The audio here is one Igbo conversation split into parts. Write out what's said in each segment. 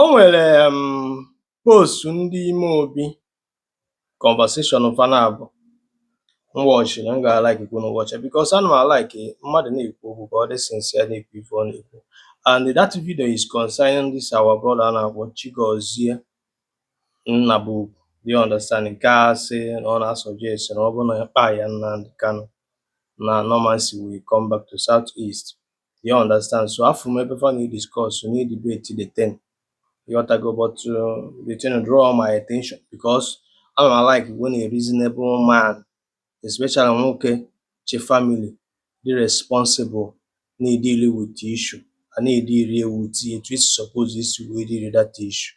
O nwere um post ndị ime obi conversation fa na-abụ m wọchiri m ga-alaiki ka unu wọcha because ana m alaiki mmadụ na-ekwu okwu ka ọ dị sincere na-ekwu ife ọ na-ekwu and that video is concerning this our brother a na-akpọ Chigozie Nnabugwu do you understand nke a sị na ọ na-asọjest na ọ bụrụ na a kpaịa Nnamdi Kanu na normalcy will come back to South East you understand so afụ m ebe fa na-ediscuss na-edebate the thing ịghọtago but uh, the thing draw my attention because ana m alaiki when a reasonable man especially nwoke chị family dị responsible na-edili with the issue a na-edili with it etu isi suppose isi wee dili that issue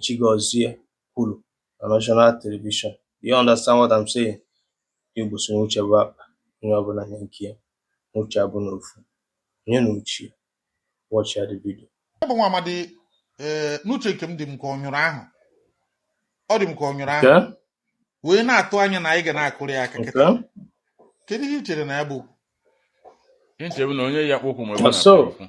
Chigozie kwuru na National Television. Do you understand what I'm saying? Igbo sị na uche bụ akpa, onye ọbụla nya nke ya, na uche abụrọ ofu. Onye na uche ya, watchịa the video. Ọ bụ nwa amadi ee n'uche nke m dị m ka ọ nyụrụ ahụ ọ dị m ka ọ nyụrụ ahụ Okay? wee na-atụ anya na anyị ga na-akụrụ ya aka kịta Okay? kedu ihe i chere na ya bụ okwu? Nche bụ na onye ya kpokwu ma ebe ọ Na na-atụ so, ya okwu.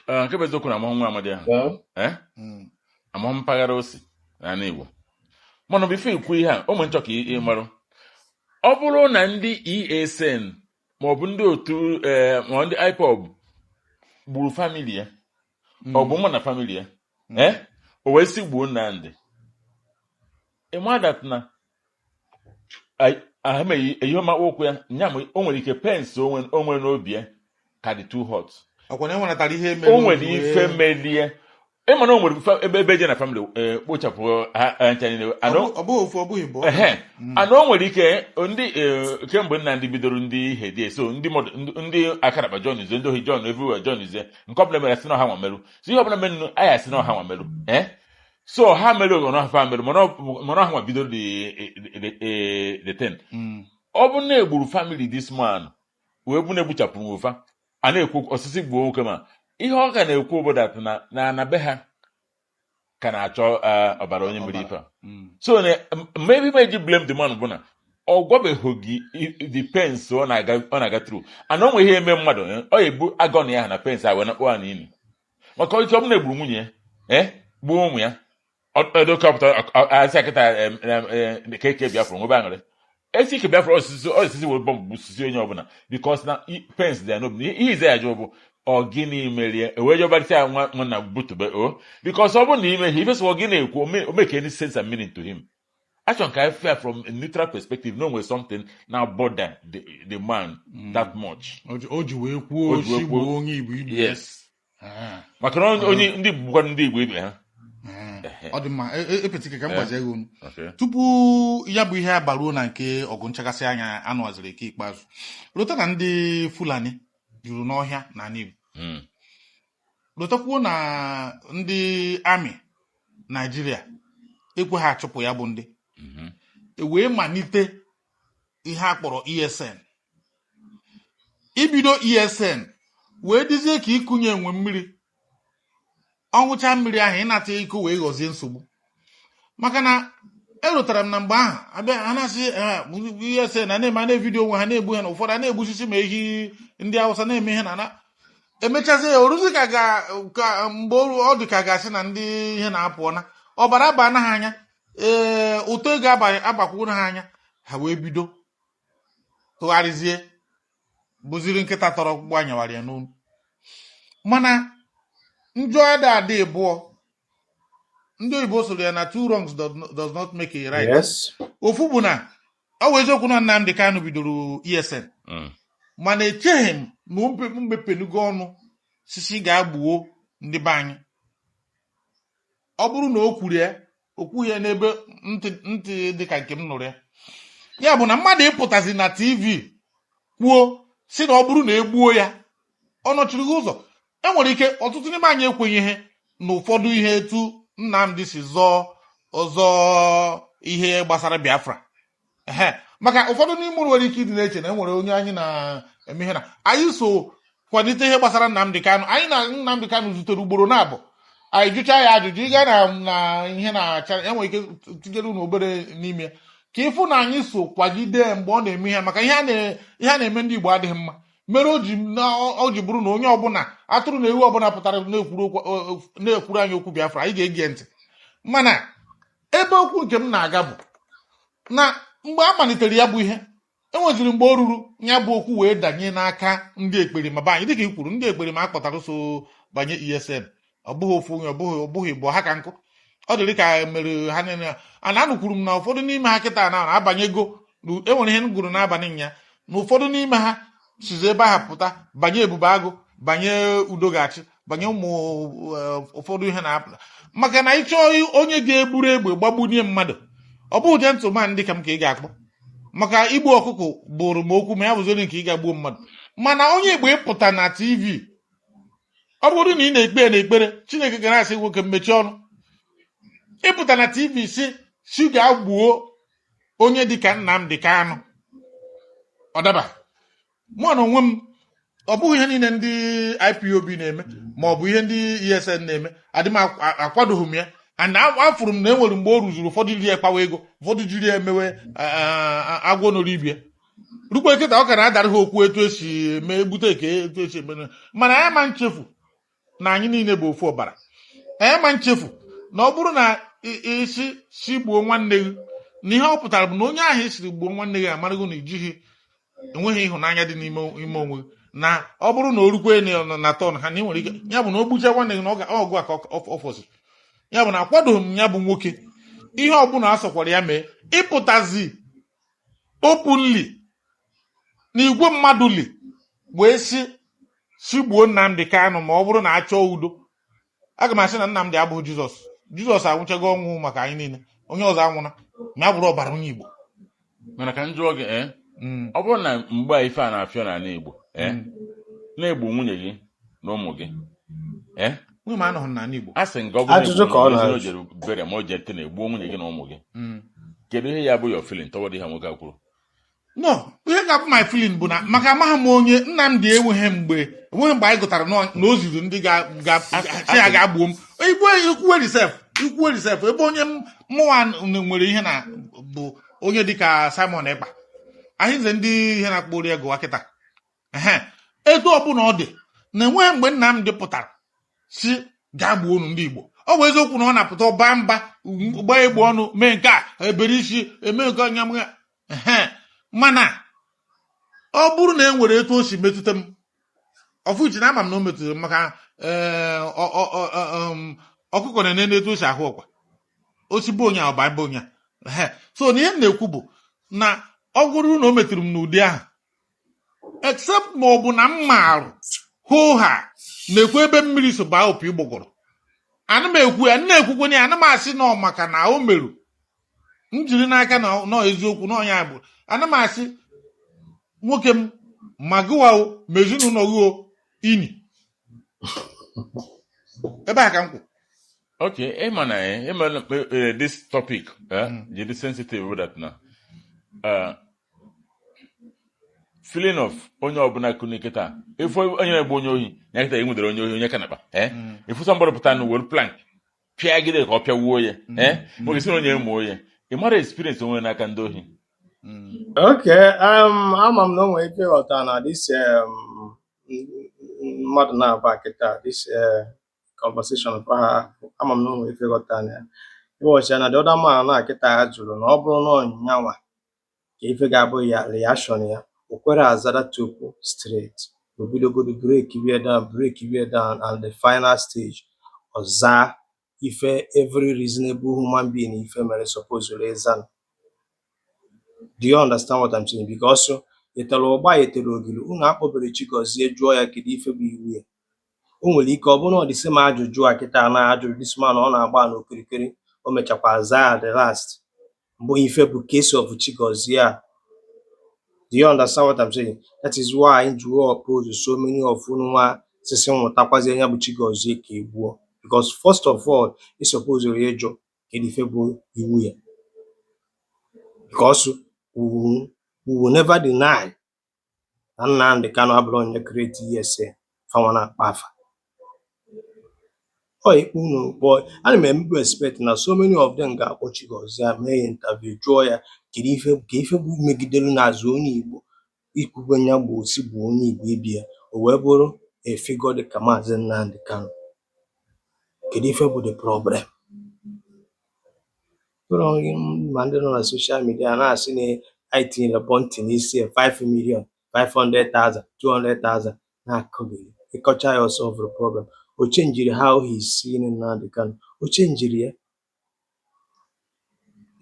Ee, nke bụ eziokwu na amahụ m nwa amadi ahụ Ee? ee Mm. amahụ m mpaghara o si n'ala Igbo mana bifo ikwu ihe a mụ na-achọ ka ị ị marụ ọ bụrụ na ndị ESN maọbụ ndị otu ee ma ndị IPOB gburu famili ya ọ bụ mụ na famili ya ee o wee sị gbuo Nnamdị ịma dat na ahụmeghị ihe ọma okwu ya nya ma o nwere ike pains o nwere n'obi ya ka dị too hot o nwere ife melie ị ma na o nwere ebe ebe je na famịlị e, kpochapụ ha ncha niile and mm. o nwere ike ndị e, kemgbe Nnamdi bidoro ndị ihe dị eso ndị akaraba joinizie ndị ohi join everywhere joinizie nke ọbụla mere sị na ọ ha nwa merụ so ihe ọbụla merụ a ya-asị na ọ ha nwa merụ eh? so ha mere oghọrọ ha famịlị mana ọ- mana ha nwa bido the the- the- the thing Mm. ọ bụ na egburu famili this man wee bụ na egbuchapụrụ ofa a na-ekwu ọ sịzị gbuo nwoke ma ihe ọ ka na-ekwu obodo atụ na na na be ha ka na-achọ eh, ọbara onye mere ife a. Mm. so na ebe m ji blame the man bụ na ọ gwabeghị gị i- the pains ọ na-aga ọ na-aga tru and o nwe ihe eme mmadụ eh, ọ ebu agony ya na pains a wee nakpuo na ili maka ike ọ bụ na egburu nwunye ya ee gbuo ụmụ ya ọ dị ka ọ pụta asị akịta ka e kee Biafra nwebe aṅụrị e si kee Biafra ọ sịzị ọ sịzị were bọmbụ gbusizi onye ọbụla bikos na pains dị ya n'obi ihe ize ya jụọ bụ ọ gịnị merie ewee jọbarịta ya nwa nwanna butube o bikos ọ bụrụ na imeghị ifesịwa gị na-ekwu ọ make any sense and meaning to him achọrọ ka ị fụ ya from a neutral perspective na o nwere something na bother the, the man mm. that much o ji- o ji wee kwuo O ji wee osi kwuo- gbuo onye igbo igbo yes Ah, maka na onye- onye ndị Igbo bụkwa ndị Igbo ibe ha ah. ọ dị mma E- e- epetike ka m gbazie gị ọnụ Okay. tupu ya bụ ihe abaruo na nke ọgụ nchakasị anya anụaziri ike ikpeazụ lota na ndị fulani juru n'ọhịa na ala igbo Mm. Lotakwuo na ndị amị Naijiria ekwe ha achụpụ ya bụ ndị mhm. e wee malite ihe a kpọrọ ESN ibido ESN wee dịzie ka ikunye enwe mmiri ọ ṅụcha mmiri ahụ ịnata iko wee ghọzie nsogbu maka na erotara m na mgbe ahụ abịa ha na-asị ESN na na-eme na vidiyo onwe ha na-egbu ha na ụfọdụ a na-egbusisi ma ehi ndị awụsa na-eme ihe na na emechazi ya o ruzi ka ga- ka mgbe oru- ọ dị ka ga-asị na ndị ihe na-apụọ na ọbara abana ha anya ee ụtọ ego aba- abakwuru ha anya ha wee bido tụgharịzie bụziri nkịta tara ọkpụkpụ anyawara ya n'olu mana njọ ada adị ịbụọ ndị oyibo sụrụ ya na two wrongs does not make a right ofu bụ na ọ wụ eziokwu na Nnamdi Kanu bidoro ESN mm. mana echeghị m na o mepenugo ọnụ sị sị gaa gbuo ndị be anyị ọ bụrụ na o kwuru ya o kwughị ya n'ebe ntị dị ka nke m nụrụ ya ya bụ na mmadụ ịpụtazi na tv kwuo sị na ọ bụrụ na egbuo ya ọ nọchiri gị ụzọ enwere ike ọtụtụ n'ime anyị ekwenyeghị na ụfọdụ ihe etu Nnamdi si zọọ ọzọ ihe gbasara Biafra ehe maka ụfọdụ n'ime unu nwere ike ịdị na-eche na enwere onye anyị na-eme ihe na anyị so kwalite ihe gbasara Nnamdi Kanu anyị na Nnamdi Kanu zutere ugboro naabọ anyị jụchaa ya ajụjụ ịga na na ihe na-acha enwere ike tinyere unu obere n'ime ka ị fụ na anyị so kwagide mgbe ọ na-eme ihe maka ihe a na- ihe a na-eme ndị Igbo adịghị mma mere o ji na ọ ji bụrụ na onye ọbụla atụrụ na ewu ọbụla pụtara na-ekwuru okwu- o- o- na-ekwuru anyị okwu biafra anyị ga-ege ntị mana ebe okwu nke m na-aga bụ na mgbe a malitere ya bụ ihe enweziri mgbe o ruru ya bụ okwu wee danye n'aka ndị ekperima be anyị dịka i kwuru ndị ekperima a kpọtara so banye esn ọ bụghị ofu onye ọ bụghị ọ bụghị ibu ha ka nkụ ọ dịrị ka mere ha niile a na anụkwuru m na ụfọdụ n'ime ha kịta na abanyego na enwere ihe m gụrụ n'abalị nya na ụfọdụ n'ime ha sizi ebe ahụ pụta banye ebube agụ banye udo ga-achị banye ụmụ eh, ụfọdụ ihe na-apụta maka na ị chọọ onye ga-eburu egbe gbagbunye mmadụ ọ bụghị gentleman dị ka m ka ị ga-akpọ maka igbu ọkụkọ bụrụ m okwu ma ya bụzi onye nke ịga gbuo mmadụ mana onye igbo ịpụta na tv ọ bụrụ na ị na-ekpe ya n'ekpere chineke ga na-asị nwoke m mechie ọnụ ịpụta na tv sị si gaa gbuo onye dịka Nnamdi Kanu ọ daba mụ na onwe m ọ bụghị ihe niile ndị IPOB na-eme ma ọ bụ ihe ndị ESN na-eme adị m akw- a- akwadoghị m ya and a- afụrụ m na e nwere mgbe o ruzuru ụfọdụ jiri ya kpawa ego ụfọdụ jiri ya emewe a- a- a- agwọ noro ibe ya rukwe kịta ọ ka na-adara ha okwu etu esi eme egbute eke etu esi eme na- mana anyị ma nchefu na anyị niile bụ ofu ọbara anyị ma nchefu na ọ bụrụ na i- ị sị si gbuo nwanne gị na ihe ọ pụtara bụ na onye ahụ ị sịrị gbuo nwanne gị amarago na ijighị enweghị ịhụnanya dị n'ime ime onwe gị. na ọ bụrụ na o rukwe na na- na turn ha na ị nwere ike ya bụ na o gbucha nwanne gị na ọ ga- ọ gụwa ka ọ- ọ- ọ fọsịrị ya bụ na akwadoghị m ya bụ nwoke ihe ọbụla a sọkwara ya mee ịpụtazi openly na igwe mmadụ li wee sị si gbuo Nnamdi Kanu ma ọ bụrụ na a chọọ udo aga m asị na Nnamdi abụghị Jizọs Jizọs anwụchago ọnwụ maka anyị niile onye ọzọ anwụna ma ya bụrụ ọbara onye Igbo mana ka m jụọ gị ee Mm, ọ bụrụ na mgbe a ife a na-afịọ n'ala Igbo ee mm. na-egbu nwunye gị na ụmụ gị Eh? nwunye m anọghị n'ala Igbo asị m gị ọ bụrụ na Ajụjụ egburu ka ọ nwunye gị, na-ajụ. o jere bere ma o jee tene gbuo nwunye gị na ụmụ gị Mm. kedu ihe ya-abụ your feeling toward ihe nwoke a kwuru no ihe ga-abụ my feeling bụ na maka amaghị m onye Nnamdi enweghị mgbe enweghị mgbe anyị gụtara nọ- na o ziri ndị ga- ga- si ya ga gbuo m igwe i kwuweri sef i kwuweri sef ebe onye m- mụwa n- nwere ihe na bụ onye dịka Simon Ekpa Arinze ndị ihe na-akpọ ori ego kịta etu ọbụla ọ dị na enweghị mgbe Nnamdi pụtara si gaa gbuo unu ndị Igbo ọ bụ eziokwu na ọ na-apụta ọ baa mba gbaa egbe ọnụ mee nke a ebere isi eme nke anya mana ọ bụrụ na e nwere etu o si metụta m of which na ama m na o metụtara m maka eh, um, ọkụkọ na-enene etu o si ahụ ọkwa ọ sị gbuo onye ọ baa mba onye so na ihe m na-ekwu bụ na ọ bụrụ na o metụrụ m n'ụdị ahụ except ma ọ bụ na m marụ hoo haa na-ekwu ebe mmiri so baa opi ụgbọgọrọ ana m ekwu ya na-ekwukwenye ya ana m asị na ọ maka na o meru m jiri n'aka na ọ- na ọ eziokwu na ọ nya bụ ana m asị nwoke m ma gụwa o ma ezinụlọ gị o ini ebe a ka m kwụ Okay, eh, man, eh, eh, man, eh, eh, this topic, eh, Mm. it is sensitive with that now. Uh, feeling of onye ọbụla kunie kịta ị fụ onye na-egbu onye ohi ya kịta e nwudere onye ohi onye kanakpa eh? mm. ị fụ somebody pụta were plank pịagide ka ọ pịawuo ya mm. eh? nwoke si na onye mụo ya ị mara experience o nwere n'aka ndị ohi mm. ok um, ama m na o nwere ike ịghọta na this um, mmadụ na-aba kịta this uh, conversation ama m na o nwere ike ịghọta na ya ịghọchi ya na the other man a kịta a jụrụ na ọ bụrụ na ọ nyanwa kee ife ga-abụ reaction ya o kwere azara tupu straight o bidogodu breakie down breakie down at the final stage ọ zaa ife every reasonable human being ife mere suppose ịza do you understand what I'm saying because e tere ụgba e tere ogiri unu akpọbere Chigozie jụọ ya kedu ife bụ iwe ya o nwere ike ọ bụrụ na ọ the same ajụjụ a kịta na a jụrụ this man ọ na-agba n'okirikiri o mechakwa zaa at the last Ọ bụ ife bụ case of Chigozie a. Do you understand what I'm saying? That is why m ji wee oppose so many of ununwa sị si nwụtakwazie nya bụ Chigozie ka e gbuo because first of all ị suppose ịjụ kedu ife bụ iwe ya because we will, we will never deny na Nnamdi Kanu abụrọ onye create ESN fanwa na-akpa afa ọ ikpe unu kpọ ana m emebu expect na so many of them ga-akpọ Chigozie a mee ya interview jụọ ya kedu ife kee ife bụ megidere n'azụ onye Igbo ikwube ya bụ osi bụ onye Igbo ibe ya o wee bụrụ a figure dị ka maazị Nnamdi Kanu kedu ife bụ the problem Ma ndị nọ na social media na-asị na anyị tinyere bounty n'isi ya 5 million 500,000 200,000 na-akọgheri ị kọcha ya ọ solvuru problem o chenjiri how he is seeing Nnamdi Kanu o chenjiri ya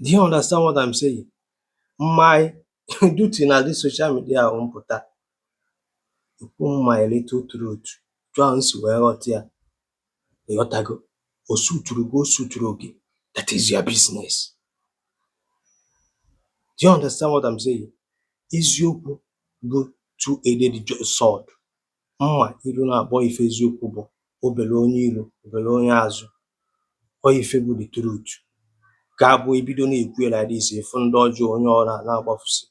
do you understand what I'm saying my duty na this social media bụ m pụta ikwu my little truth etu m si wee ghọta ya ịghọtago o suturu gị o suturọ gị that is your business do you understand what I'm saying eziokwu bụ two edged sword mma iru naabọ ife eziokwu bụ o bere onye iru o bere onye azụ ọ ife bụ the truth ga-abụ e bido na-ekwu ya like this ị fụ ndị ọjọọ onye ọra na-agbafusi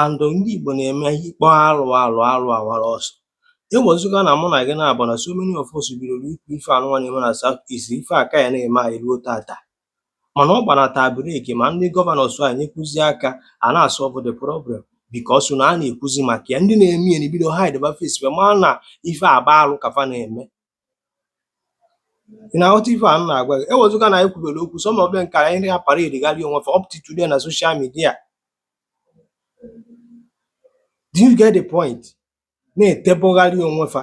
and ndị Igbo na-eme ị kpọọ alụ alụ alụ awara ọsọ Ewezuga na mụ na gị naabọ na so many of us bidoro ikwu ife anụnwa na-eme na South East ife a ka ya na-eme anyị ruo tata mana ọ gbanata break ma ndị governors enyekwuzi aka a na-asolve the problem because na a na-ekwuzi maka ya ndị na-eme ya ebido hideba face ma na ife a bụ alụ ka fa na-eme ị na-aghọta ife a m na-agwa gị ewezuga na anyị kwubere okwu some of them ka anyị na parade gharị onwe fa up to today na social media do you get the point na-etebugharị onwe fa